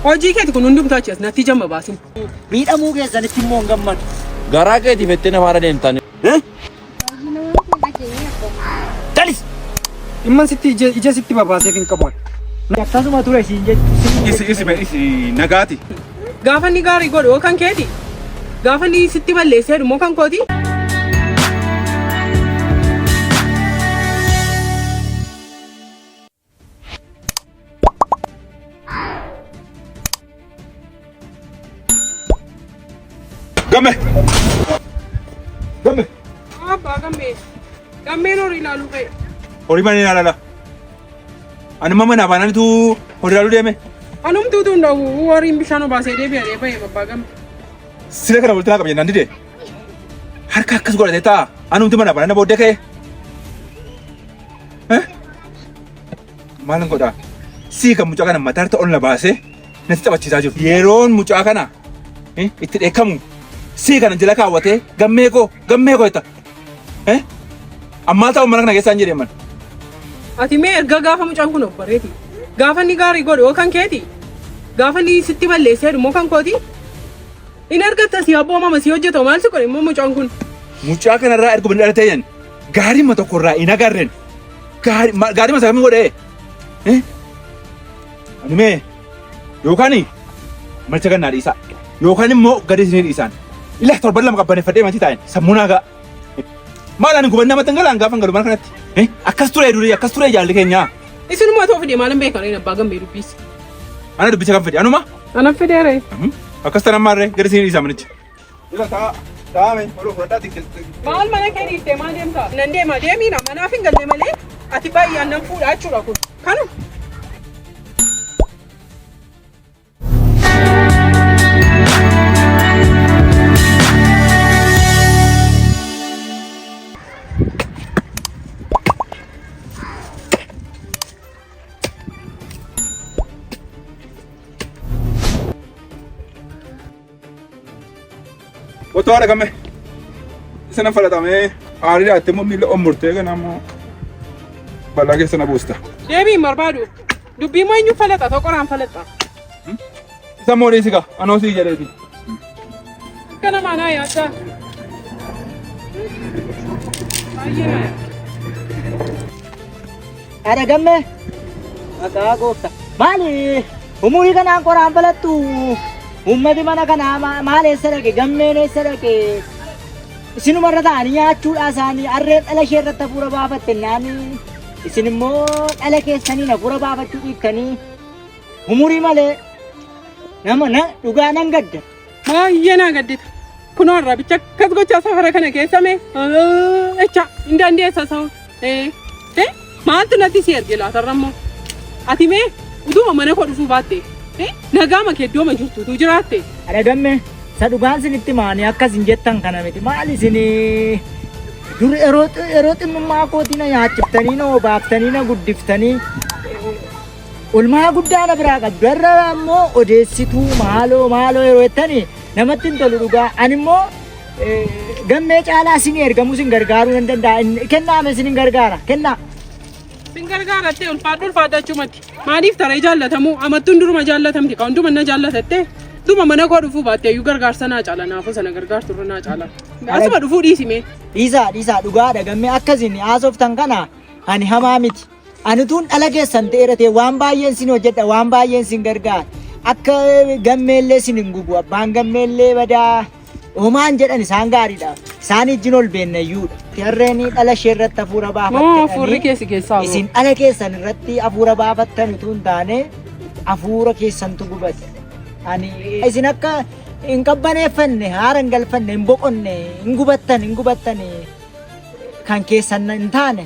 Hojii keeti kun hundumtuu achi as natti jamma baasin. Miidhamuu keessanitti immoo hin gammadu. Garaa keetiif itti na faana deemtan. Dalis! Dhimman sitti ija ija sitti babaaseef hin qabu. Akkasuma ture siin jechuun. nagaati. Gaafa inni gaarii godhu yoo kan keeti. Gaafa inni sitti balleessee dhumoo kan kooti. Gamme! Gamme! Abbaa gammee. Gammeen horii ilaaluu ka'e. Horii mana ilaalala. Ani mama naa baananitu horii ilaaluu deeme. Anumti utuu hin dhawu horiin bishaan obaasee deebi'anii ba'e abbaa gammee. Sila kana walitti naa qaba jennaan dide. Harka akkas godhatee ta'a. Anumti mana baanana booddee ka'e. Maal godhaa? Sii kan mucaa kana mataarta ol na baasee natti taphachiisaa jiru. Yeroon mucaa kana eh, itti dheekkamu sii kana jala kaawwatee gammee koo gammee koo jetta. Eh? Ammaa ta'u mana kana keessaa hin jedheeman. Ati mee erga gaafa mucaan kun of bareeti. Gaafa inni gaarii godhu yoo kan keeti. Gaafa inni sitti balleessee immoo kan kooti. Inni argatta si abboo mama si hojjetu maal si godhe immoo mucaan kun. Mucaa kanarraa erga bani dhalatee jedhan. Gaarima tokko irraa hin agarren. Gaarima isa kamiin godhee? Ani mee yookaan malcha gannaa dhiisaa yookaan immoo gadi isinii dhiisaan. Ilaa torban lama qabbaneeffadhee matii taa'een sammuu naa ga'a. Maal ani gubannaa matan galaan gaafa galu mana kanatti. Akkas ture durii akkas ture jaalli keenyaa. Isinuma ta'uu fide maalan beekan inni abbaa gammee dubbiisa. Ana dubbicha kan fide anuma. Anan fideere. Akkas tanan maarree gadi isinii dhiisaa manicha. Dura ta'a. Taa'ame. Oluu fudhadhaa xiqqeessitee. Maal mana kee dhiiftee maal deemtaa? Nan deema deemiina manaaf hin galle malee ati baay'ee annan fuudha jechuudha kun. Kanu. Otoo haadha gamme isa nan falatamee aarii dhaattee immoo miila ommurtee kana immoo balaa keessa na buusta. Deebii hin barbaadu. Dubbii immoo eenyuun falaxa ta'u qoraan falaxa. Isa immoo dhiisi kaa anoo sii jedheeti. Akka namaa naa yaaddaa. Baay'ee naa yaaddaa. Haadha gammee maqaa goofta. Maali umurii kanaan qoraan balattu ummati mana kanaa ma- maal eessa dhaqe gammeen eessa dhaqe isinuma irra ta'anii nyaachuudhaa isaanii harreen dhala ishee irratti hafuura baafatte naanii isin immoo dhala keessaniin hafuura baafachuu dhiiftanii umurii malee nama na dhugaa nan gadda. Baay'ee naa gaddita. Kunoo irraa bicha akkas gochaa safara kana keessa mee jecha hin dandeessa sa'u. Ee maaltu natti si erge laatarra immoo ati mee utuma mana koo dhufuu baatte nagaa makee iddooma jirtutu jiraatte. Dhagamme isa dhugaan sinitti maanii akkas hin jettan kana miti maal isin dur yeroo xinnummaa kootii na nyaachiftanii na obaaftanii na guddiftanii Olmaa guddaa na biraa qabdu irra ammoo odeessituu maaloo maaloo yeroo jettani namatti hin tolu dhugaa ani immoo eh, gammee caalaa isin ergamu isin gargaaruu nan danda'a Inni- kennaa mee isin hin gargaara kennaa Sin gargaarattee ulfaadhu ulfaadhu achumatti. Maaliif taree jaallatamu? Amattuun duruma jaallatamti kan hunduma na jaallatatte. Duma mana koo dhufuu baatte iyyuu gargaarsa naa caala naafuu sana gargaartu irra naa caala. Asuma dhufuu dhiisime. dhiisaa dhiisaa dhugaadha gammee akkasiin haasoftan kana ani hamaa miti Ani utuun dhala keessan ta'ee dhatee waan baay'een sin hojjedha, waan baay'een sin gargaara. Akka gammeellee sin hin gubu, abbaan gammeellee badaa homaan jedhan isaan gaariidha. Isaan ijjin ol beennayyuudha. Jarreen dhala ishee irratti hafuura Moo fuurri baafattanii keessi keessaa moo? isin dhala keessan irratti hafuura baafattan utuu hin taane hafuura keessantu gubate. Ani isin akka hin qabbaneeffanne, haara hin galfanne, hin boqonne, hin gubattan, hin gubattan kan keessan hin taane.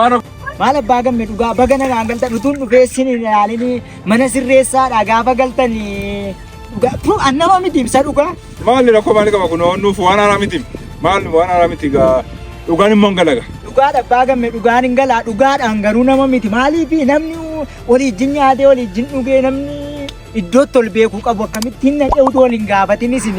Maal maal abbaa gamme dhugaa baga nagaan galtan utuun dhufee sin hin ilaalini mana sirreessaadha gaafa galtan dhugaa tu annama miti ibsa dhugaa Maal rakkoo maal qaba kun nuuf waan haaraa miti. Maal waan haaraa miti gaa dhugaan immoo hin galaga. dhugaadha abbaa gamme dhugaan hin galaa dhugaadhaan garuu nama miti maaliif namni walii ijjin nyaatee walii ijjin dhugee namni iddootti ol beekuu qabu akkamittiin naqee utuu wal hin gaafatin isin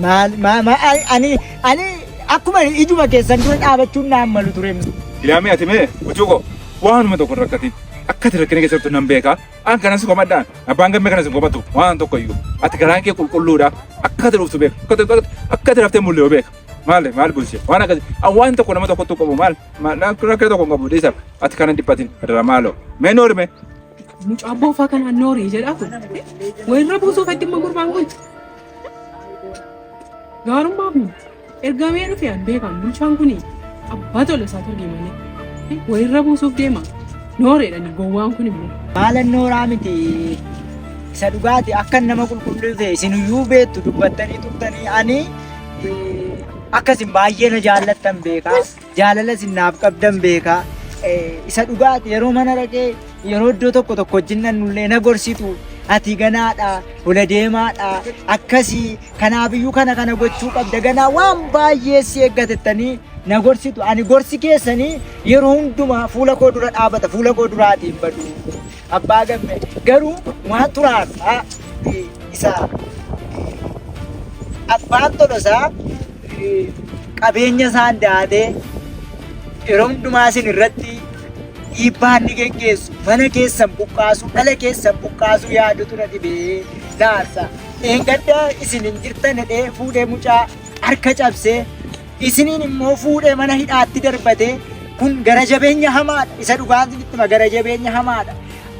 maal maal ani Ani akkuma ijuma keessan dura dhaabachuun naan malu ture. Ilaamee ati mee gochuu koo waanuma tokko hin rakkatin. Akka ati rakkina keessa jirtu nan beeka. An kanan si komadhaan abbaan gammee kanan si komatu waan tokko iyyuu. Ati garaan kee qulqulluudha. Akka ati dhuftu beeka. Akka ati- Akka ati raftee mul'atu beeka. Maali maal bulchee waan akkasi an waan tokko nama tokkotti qabu maal maal rakkina tokko hin qabu dhiisa ati kanan dhiphatin adara maaloo mee noorime Mucaa boofaa kanaan noorii jedhaa kun. Wayirra buusuuf addimma gurbaan kun. Gaarummaa kun ergamee dhufe an beekan bulchaan kun abbaa tola isaa turge malee walirra buusuuf deema nooreedhani gowwaan kun immoo. Maalan nooraa miti isa dhugaati akka nama qulqulluu ta'e isinuyyuu beektu dubbattanii turtanii ani akkasin baay'ee na jaallattan beekaa. Jaalala isin naaf qabdan beeka. Isa dhugaati yeroo mana dhaqee yeroo iddoo tokko tokko wajjin dhannullee na gorsitu. Ati ganaadha, hola deemaadha, akkasii kanaafiyyuu kana kana gochuu qabda ganaa waan baay'ee si eeggatettanii na gorsitu. Ani gorsi keessanii yeroo hundumaa fuula koo dura dhaabata, fuula koo duraatiin badu. Abbaa gamme garuu maa xuraasaa isa abbaan tolosaa qabeenya isaan daatee yeroo hundumaa isin irratti dhiibbaa inni geggeessu mana keessan buqqaasuu dhala keessan buqqaasuu yaadu tura dhibee naarsa. Dheengadda isin hin jirtan jedhee fuudhee mucaa harka cabsee isiniin immoo fuudhee mana hidhaatti darbatee kun gara jabeenya hamaadha isa dhugaan sitti hima gara jabeenya hamaadha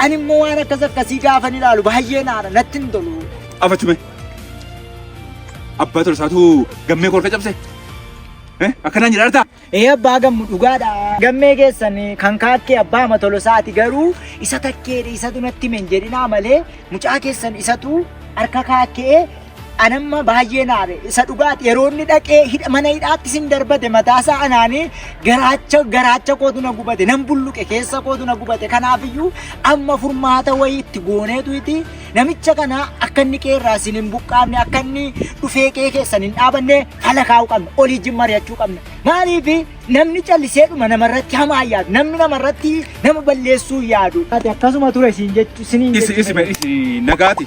ani immoo waan akkas akkasii gaafan ilaalu baay'ee naadha natti hin tolu Afachume. Abbaa tolsaatu gammee kolka cabse. Eh, Akkanaan jedha artaa. ee abbaa gammu dhugaadha gammee keessan kan kaakkee abbaa ama tolosaati garuu isa takkeedha isatu natti himen jedhinaa malee mucaa keessan isatu harka kaakkee anamma baay'ee naare isa dhugaati yeroo inni dhaqee hidha- mana hidhaatti sin darbate mataasaa anaanii garaacha garaacha kootu na gubate nan bulluqe keessa kootu na gubate kanaafiyyuu amma furmaata wayii itti gooneetu iti namicha kana akka inni qeerraa sin hin buqqaafne akka inni dhufee qee keessan hin dhaabanne fala kaa'uu qabna olii jin mari'achuu qabna maaliif namni callisee dhuma namarratti hamaa yaadu namni namarratti nama balleessuu yaadu akkasuma ture siin jechu siniin Isi isi jechu. isi nagaati.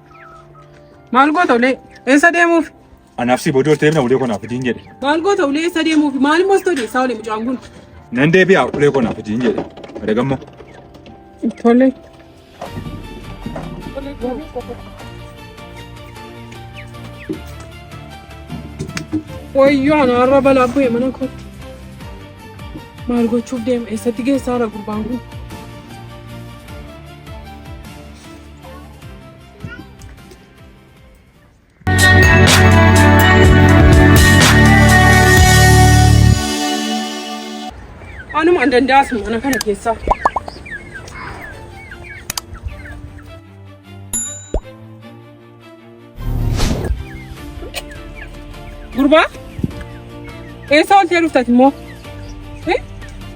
Maal goota ulee? Eessa deemuuf? Anaaf si boodoo ta'eef na ulee konaaf idiin jedhe. Maal goota ulee eessa deemuuf? Maal immoo sitoo deessaa ulee mucaan kun? Nan deebi'a ulee konaaf idiin jedhe. Adagammoo. Tole. Wayyoo ana har'a balaa bu'e mana kootti. Maal gochuuf deema? Eessatti geessaa jira gurbaan kun? Anuma an danda'as mana kana keessaa. Gurbaa? Eessa oltee dhuftati immoo?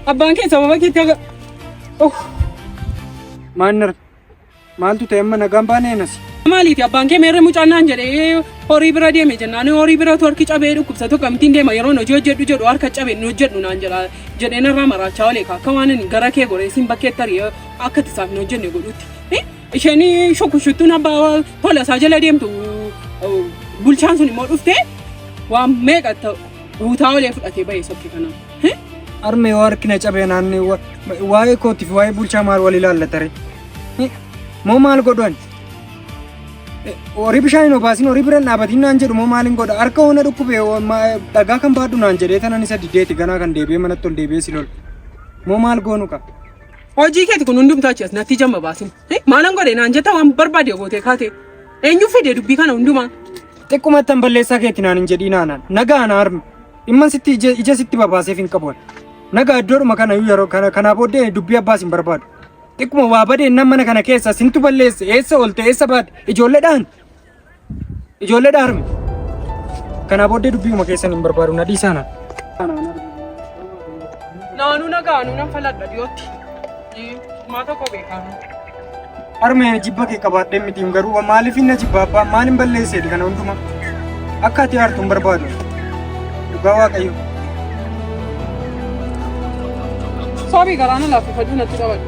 Abbaan kee sababa keetti aga... Oh. Maannar Maaltu ta'e amma nagaan baanee nasi. Maaliiti abbaan kee meerre mucaan naan jedhee horii bira deeme jennaan horii bira torki cabee dhukkubsatu akkamittiin deema yeroon hojii hojjedhu jedhu harka cabe hin hojjedhu naan jedha jedhee narraa maraachaa olee akka waan ani gara kee goree siin bakkee tarii akka tisaaf hin hojjenne godhutti. Isheen shukkushuttuun abbaa tola isaa jala deemtu bulchaan sun immoo dhuftee waan meeqa guutaa olee fudhatee ba'ee sokkee kanaa. Armee yoo harki na cabee naannee wa- waa'ee kootii fi waa'ee bulchaa maal wal ilaallatare? Moo maal godhan? Horii bishaan hin obaasin horii bira hin dhaabatin naan jedhu moo maal hin godha? Harka hoona dhukkube hoo ma- dhagaa kan baadhu naan jedhee tanan isa diddeeti ganaa kan deebi'ee manatti ol deebi'ee si lola. Moo maal goonu qaba? Hojii keeti kun hundumtuu achi as natti jamma baasin. Maalan godhe naan jetta waan barbaade gootee kaate. Eenyu fide dubbii kana hundumaa. Xiqqumattan balleessaa keetti naan hin jedhiin aanaan. Nagaa ana harmi. Dhimman sitti ija ija sitti babaaseef hin qabu. Nagaa iddoodhuma kana iyyuu yeroo kana kanaa booddee dubbii abbaas hin barbaadu. Xiqquma waa badeen nan mana kana keessa sintu balleesse eessa oolte eessa baate ijoolleedhaan Ijoollee dhaarme. Kanaa booddee dubbiuma keessan hin barbaadu na dhiisaana. Naanuu nagaa nu nan faladha dhiyootti. Maa tokko beekaa. Harmee jibba kee qabaadhee mitiin garuu maaliif hin na jibba abbaa maaliin balleesseeti kana hundumaa. Akka ati aartu hin barbaadu. Dhugaa waaqayyo. Soobii galaana laaffifaduu natti qabadhu.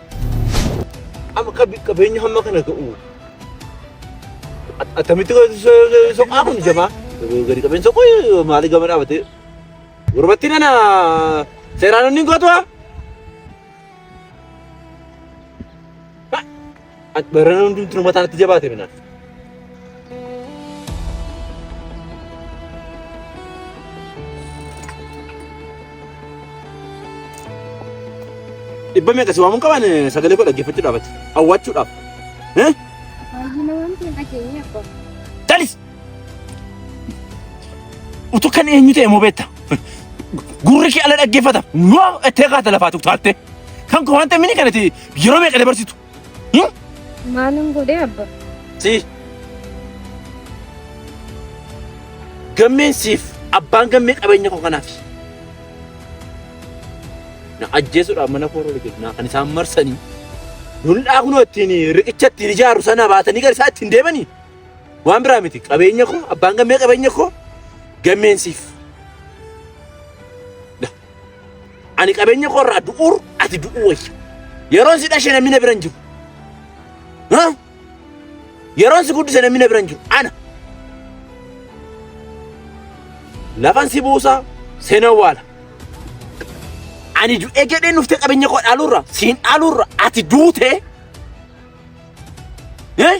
Amma qabeenya hamma kana ga'u attamitti soqaa kun jabaa gadi qabeen soquu maali gama dhaabate gurbatti nana seeraan inni gootuwa. Barana hundumtuu mataan itti jabaate minaan. Dhibba meeqa si waamuun qabaan sagalee koo dhaggeeffachuu dhaabate. Awwaachuu dhaab. Baay'ina waan ta'e dhageenye abbaa. Talis! Utuu kan eenyu ta'e moo beekta? Gurri kee ala dhaggeeffata. Yoo ettee kaata lafaa tuqtaatte. Kan koo waan ta'e mini kanatti yeroo meeqa dabarsitu? Maalin godhee abba? Si. Gammeen siif abbaan gammee qabeenya koo kanaaf. Na ajjeesuudhaaf mana koo irra jiru naa kan isaan marsanii. Dullaa kunoo ittiin riqicha ittiin ijaaru sana baatanii gara isaa ittiin deemanii. Waan biraa miti qabeenya koo abbaan gammee qabeenya koo gammeen siif. Ani qabeenya koo irraa du'uur ati du'uu wayya. Yeroon si dhashe namni na bira hin jiru. Ha? Yeroon si guddise namni na bira hin jiru. Ana. Lafan si buusaa seenaa waala. Ani du'ee jedhee nuftee qabeenya koo dhaaluurra siin dhaaluurra ati duutee. Eh?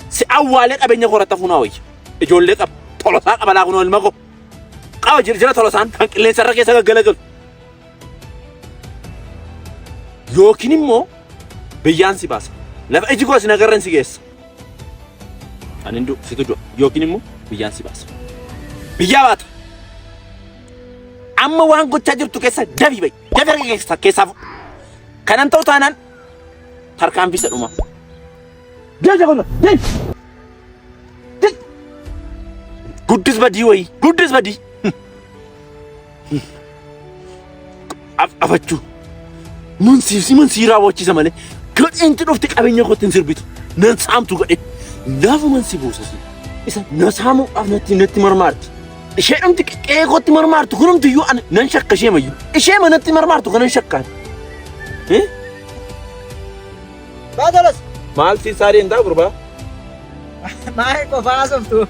Si awwaalee qabeenya koo irratti hafuunaa wayya. Ijoollee qaba. Tolosaa qaba laa kunoo ilma koo. Qawa jirjira tolosaan kan qilleensa irra keessa gaggalagalu. Yookiin immoo biyyaan si baasa. Lafa iji koo si nagarran si geessa. Ani hin du'u situ du'a. Yookiin immoo biyyaan si baasa. Biyyaa baata. Amma waan gochaa jirtu keessa dabii ba'i. Dabii harka keessa keessaa fuudhu. Kanan ta'u taanaan tarkaanfii isa dhumaa. Deja kono. Dej. Dej. Guddis badii wayii. Guddis badii. Af afachuu. Mun siif si mun sii raawwachiisa malee. Gadheentu dhufte qabeenya kootti hin sirbitu. Nan saamtu gadhe. Naafuman si boosasi. Isa na saamuudhaaf natti natti marmaarti. Ishee dhumti qe'ee kootti marmaartu kunumti iyyuu ana nan shakka ishee mayyu. Ishee manatti marmaartu kanan shakkaan. Eh? Baatalas. Maal si isaa deemtaa gurbaa? Maal qofaa softu.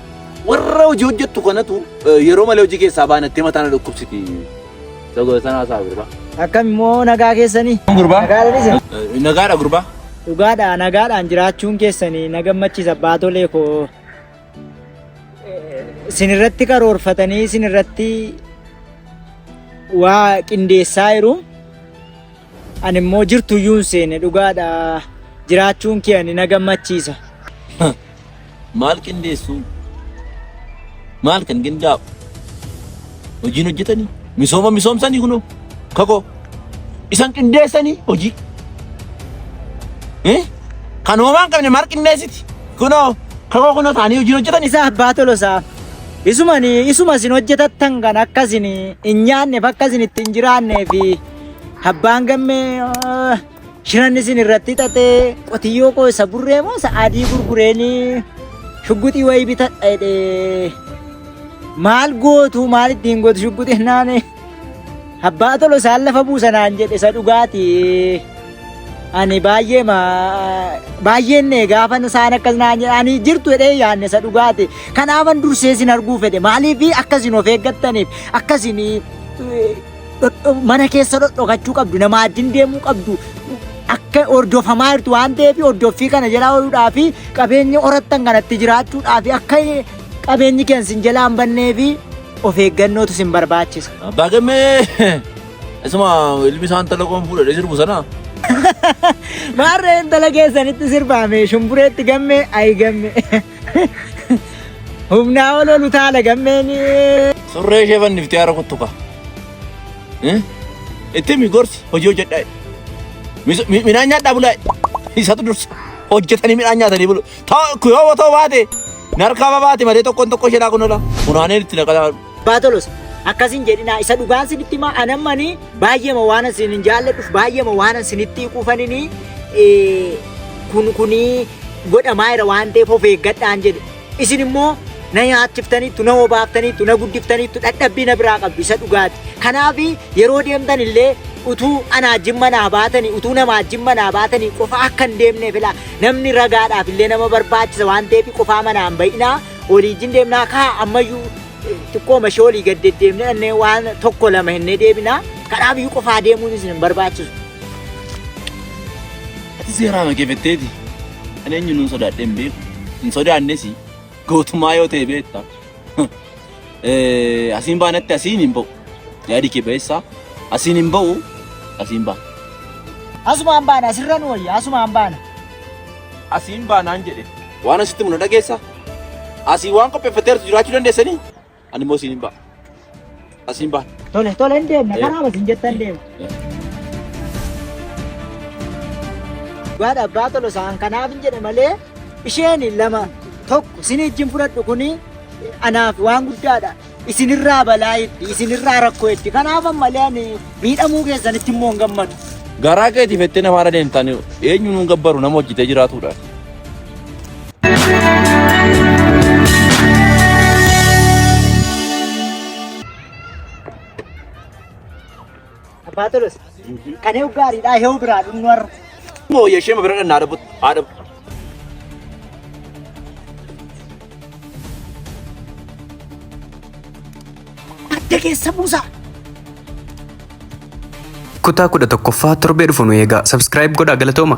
Warra hojii hojjettu kanatu eh, yeroo malee hojii keessaa baanattee mataa na dhukkubsiti. Sagoo sanaa isaa gurbaa. Akkam immoo nagaa keessanii. Gurbaa. Nagaadhanis. Eh, Nagaadha gurbaa. Dhugaadha nagaadhaan jiraachuun keessanii na gammachiisa baatolee koo. Isin irratti karoorfatanii isin irratti waa qindeessaa jiru. Ani immoo jirtu iyyuu hin seene dhugaadha. Jiraachuun kee ani na gammachiisa. Maal qindeessuu? Maal kan qindaa'u? Hojiin hojjetanii? Misooma misoomsanii kunoo? Kakoo? Isan qindeessanii hojii? Eh? Kan hoomaa hin qabne maal qindeessiti? Kunoo? Kakoo kunoo taanii hojiin hojjetanii? Isa abbaa tolosaa. Isumani isuma isin hojjetattan kan akkasin hin nyaanneef akkasin itti hin jiraanneefi. Abbaan gammee ah, shiran isin irratti xaxee qotiyyoo koo isa burree moo isa adii gurgureeni shugguxii wayii bitadha jedhee maal gootu maal ittiin gootu shugguxii naane abbaa tolo isaan lafa buusanaan jedhe isa dhugaati ani baay'ee ma baay'een ne gaafa isaan akkas naan jedhe ani jirtu jedhee yaanne isa dhugaati kanaafan dursee isin arguu fedhe maaliif akkasin of eeggattaniif akkasin dhodho- mana keessa dhodhokachuu qabdu nama addin deemuu qabdu akka hordofamaa jirtu waan ta'eef hordoffii kana jalaa ooludhaa fi qabeenya horattan kanatti jiraachuudhaa fi akka qabeenyi keenya sin jalaa hin bannee fi of eeggannootu sin barbaachisa. Abbaa gammee isuma ilmi isaan talagoon fuudhee sirbu sana. Maarree intala keessanitti sirbaame shumbureetti gammee ayi gammee. Humnaa ol ol utaala gammeen. Surree ishee fanniftee haara kuttuka. Itti mi gorsi hojii hojjedhaa. Midhaan nyaadhaa bulaa. Isatu dursa. Hojjetanii midhaan nyaatanii bulu. Yoo ta'u baate narkaa baate malee tokkoon tokko ishee kun ola. Funaaneen itti naqataa. Abbaa Tolosa, akkas hin jedhinaa isa dhugaan sinitti himaa anammanii baay'eema waanan sin hin jaalladhuuf baay'eema waanan sinitti hiikuufaninii eh, kun kunii godhamaa jira waan ta'eef of eeggadhaan jedhe. Isin immoo na nyaachiftaniittu, na obaaftaniittu, na guddiftaniittu dhadhabbii na biraa qabdu isa dhugaati. Kanaaf yeroo deemtan illee utuu anaa jimma naa baatanii, utuu namaa jimma naa baatanii qofa akka hin deemneef ilaa namni ragaadhaaf illee nama barbaachisa waan ta'eef qofaa manaa hin ba'inaa. Oliijjiin deemnaa kaa ammayyuu xiqqooma ishee olii gad deddeemnee dhannee waan tokko lama hennee deebinaa kanaaf iyyuu qofaa deemuun isin hin barbaachisu. Ati seeraa makee fetteeti. Ani eenyu nun sodaadhee hin beeku. Hin sodaannes gootummaa yoo ta'e beekta. Eh, Asiin baanatti asiin hin ba'u. Yaadi kee ba'eessaa. Asiin hin ba'u. Asiin baana. Asumaan baana asirra nu wayya asumaan baana. Asiin baa naan jedhe. Waan asitti himu na dhageessa? Asii waan qopheeffatteertu jiraachuu dandeessanii? Ani immoo siin hin ba'a. Asiin baa. Tole tole hin deemna karaa masin jettan deema. Dhugaadha abbaa tolo isaan kanaaf hin jedhe malee isheen lama tokko sin ijjin fudhadhu kuni anaaf waan guddaadha. Isinirraa balaa itti, isinirraa rakkoo itti. Kanaaf ammalee ani miidhamuu keessanitti immoo hin gammadu. Garaa keetii fettee namaa irra deemtaan eenyu nuun gabbaru nama hojjetee jiraatudha. Abbaa Tolosa. Kan eewu gaariidha eewu biraa dhumnu har'a. Moo yeshee ma bira dhan naa dhabutti. Haa dhabu. Adda keessa buusaa. Kutaa kudha tokkoffaa torbee dhufu nu eegaa. Subscribe godhaa galatooma.